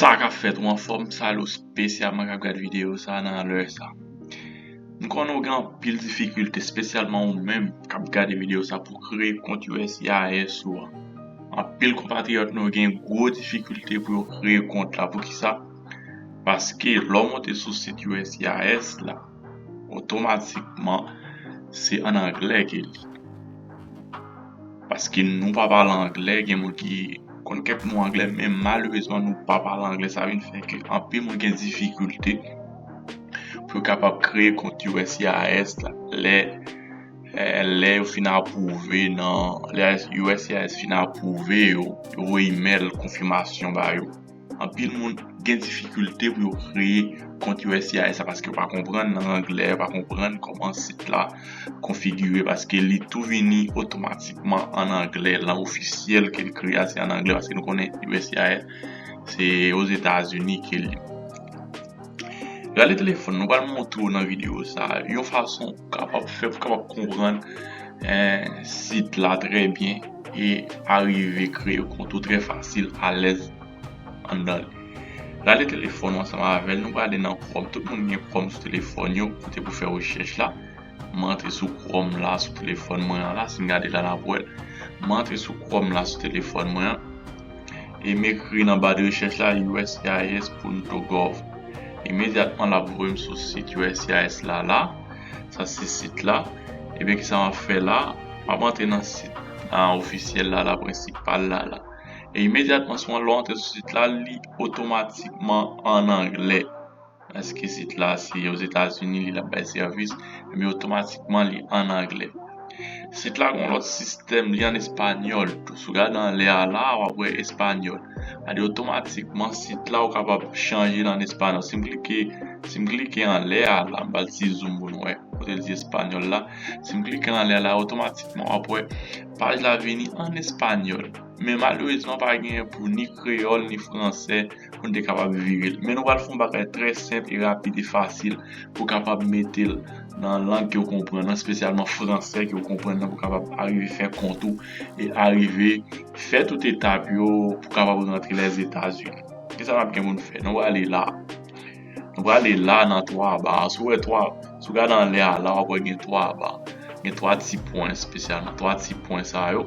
Sa kap fèt ou anfòm m salye w spesyalman kap gad videyo sa nan lè sa m konnen ou gen anpil difikilte spesyalman ou menm kap gade videyo sa pou kreye kont uscis ou an anpil konpatriyòt nou gen gwo difikilte pou yo kreye kont la poukisa paske lè w monte sou sit uscis la otomatikman se an anglè ke li. Paske nou pa pale anglè, gen moun ki konn kèk mo anglè men malerezman nou pa pale anglè sa vin fè ke anpil moun gen difikilte pou yo kapab kreye kont uscis la lè lè yo fin apwouve nan lè uscis fin apwouve yo yo voye imèl konfimasyon ba yo. Anpil moun gen difikilte pou yo kreye kont uscis la paske yo pa konprann lang anglè, yo pa konprann kòman sit la konfigire paske li tou vini otomatikman an anglè. Lang ofisyèl ke li kreye a se an anglè paske nou konnen uscis se ozetazini ke li ye. Gade telefòn, nou pral montre w nan videyo sa a yon fason. kapab fè pou kapab konprann sit la trè byen e arive kreye kont ou trè fasil alèz anndan li. Rale telefòn ou ansanm avè l, nou prale nan chrome, tout moun gen chrome sou telefòn yo, kote pou fè rechèch la, m antre sou chrome la sou telefòn mwen an la, si n gade la n ap wè l, m antre sou chrome la sou telefòn mwen an. e m ekri nan ba de rechèch la uscis punto gov imedyatman l ap voye m sou sit uscis la la sa se sit la ebyen kisa m ap fè la m ap antre nan sit ofisyèl la la prensipal la la e imedyatman lè w antre sou sit la li otomatikman an anglè. Eske sit la se Ozetazini li ap bay sèvis, ebyen otomatikman li an anglè. Sit la gen yon lòt sistèm li an espanyòl tou, si w gade anlè a la a w ap wè espanyòl, sa di otomatikman sit la ou kapab chanje l an espanyòl, si m klike si m klike anlè a la m ba l ti zoom pou nou wè kote l di espanyòl la, si m klike anlè a la otomatikman w ap wè paj la vini an espanyòl. Men malerezman pa gen pou ni kreyòl ni fransè pou n te kapab vire l. Men nou pral fè yon bagay trè senp e rapid e fasil pou kapab mete l nan lang ke w konprann lan, spesyalman fransè ke w konprann lan pou kapab arive fè kont ou e arive fè tout etap yo pou kapab rantre Lèzetazini. Ki sa n ap gen pou n fè? Nou prale la a. Nou prale la nan 3 ba a. Si w wè 3, si w gade anlè a la, w ap wè gen 3 ba. Gen 3 ti pwen espesyalman. 3 ti pwen sa yo.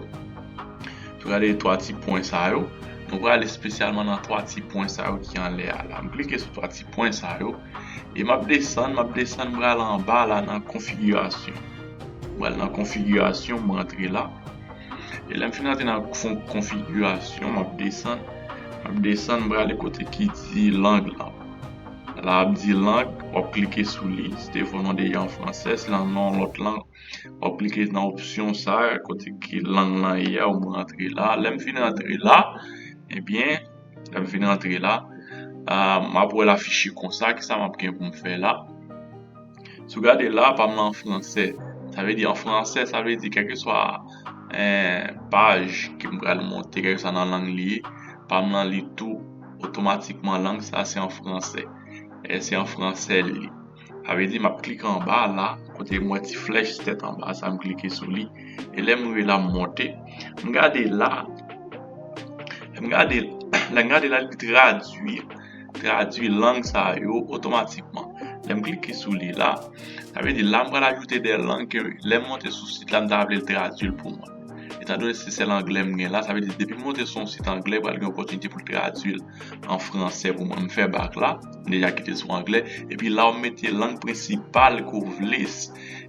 Si w gade 3 ti pwen sa yo, nou prale espesyalman nan 3 ti pwen sa yo ki anlè a la. M klike sou 3 ti pwen sa yo. E m ap desann, m ap desann, m pral anba la nan konfigirasyon. M pral nan konfigirasyon, m rantre la. e lèm fin rantre nan fon konfigirasyon map desann map desann mwen ale kote ki di lang lan la ap di lang wap klike sou li si te fon non deja an fransè si lan non lòt lang wap klike nan opsyon sa kote ki lang lan ye a ou mwen rantre la lèm fin rantre la ebyen lèm fin rantre la map wè la fiche konsa kisa map gen poum fè la. Si w gade la, pa m lan an franse. Sa vle di an franse, sa vle di kèlkeswa paj ke m pral monte, kèlkeswa nan lang li ye, pa m lan li tou otomatikman lang sa se an franse. E se an franse l ye. Sa vle di m ap klike anba a la, kote m wè ti flèch tèt anba sa, m klike sou li. E lè m rive la, m monte. M gade la, lè m gade la li tradui. tradwi lang sa yo otomatikman. Lè m klike sou li la, sa vle di la m pral ajoute de lang ke lè m monte sou sit la m ta vle l tradui l pou mwen. Etandone se sèl angle m gen la, sa vle di depi m monte sou yon sit angle, pral gen opòtinite pou l tradui l an franse pou mwen. M fè bak la, m deja kite l sou angle, epi la ou mete lang prensipal ke w vle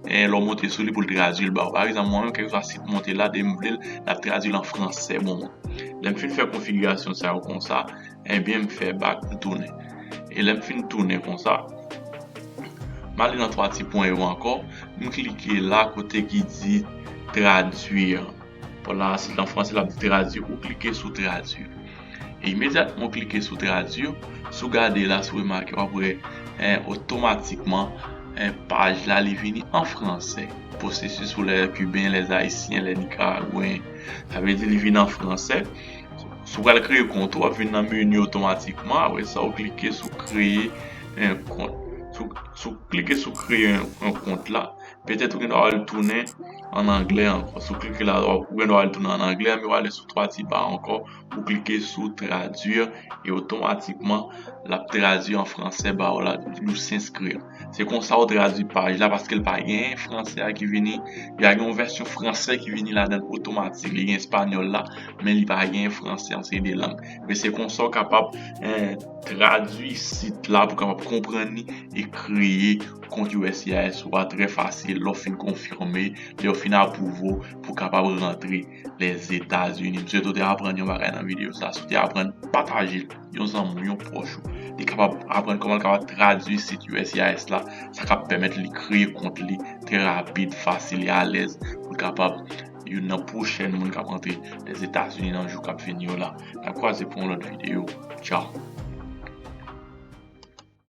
lè w monte sou li pou l tradui l ba ou. Pa egzanp, mwen menm kèlkeswa sit m monte la, depi m vle l, l ap tradui l an franse pou mwen. Lè m fin fè konfigirasyon sa yo konsa, Ebyen m fè bak m tounen. E lè m fin tounen konsa, m ale nan 3 ti pwen yo ankò, m klike la kote ki di traduire an. Bon la se an franse l ap di traduire, ou klike sou traduire. E imedyatman ou klike sou traduire, si w gade la si w remake w ap wè otomatikman paj la li vini an franse. Pwosesis pou lè kiben, lè ayisyen, lè nikaragwen. Sa vle di li vini an franse. Si w pral kreye kont ou, w ap vin nan meni otomatikman. Apre sa, ou klike sou kreye yon kont. Si w klike sou kreye yon kont la, petèt ou gen dwa wè l tounen an anglè ankò. Si w klike la, ou gen dwa wè l tounen an anglè anmè w ale sou 3 ti ba ankò, ou klike sou traduire e otomatikman l ap tradui an fransè ba w la, li di w s'inscrire. Se konsa ou tradwi paj la paske l pa gen franse a ki vini, li pa gen yon vèsyon franse ki vini ladan l otomatik. Li gen espanyòl la, men li pa gen franse an. Se de lang. Men se konsa ou kapab tradwi sit la pou w kapab konprann li e kreye kont uscis ou a trè fasil lè w fin konfime, lè yo fin apwouve w pou w kapab rantre Lèzetazini. M swete w te aprann yon bagay nan videyo sa a. Si w te aprann, pataje l. yon zanmi w, yon pwòch ou, li kapab aprann kòman l kapab tradui sit uscis la, sa kab pèmèt li kreye kont li trè rapid, fasil e alèz pou l kapab youn nan pwochèn moun k ap rantre Lèzetazini nan jou k ap vini yo la. N ap kwaze pou yon lòt videyo. Tchaw!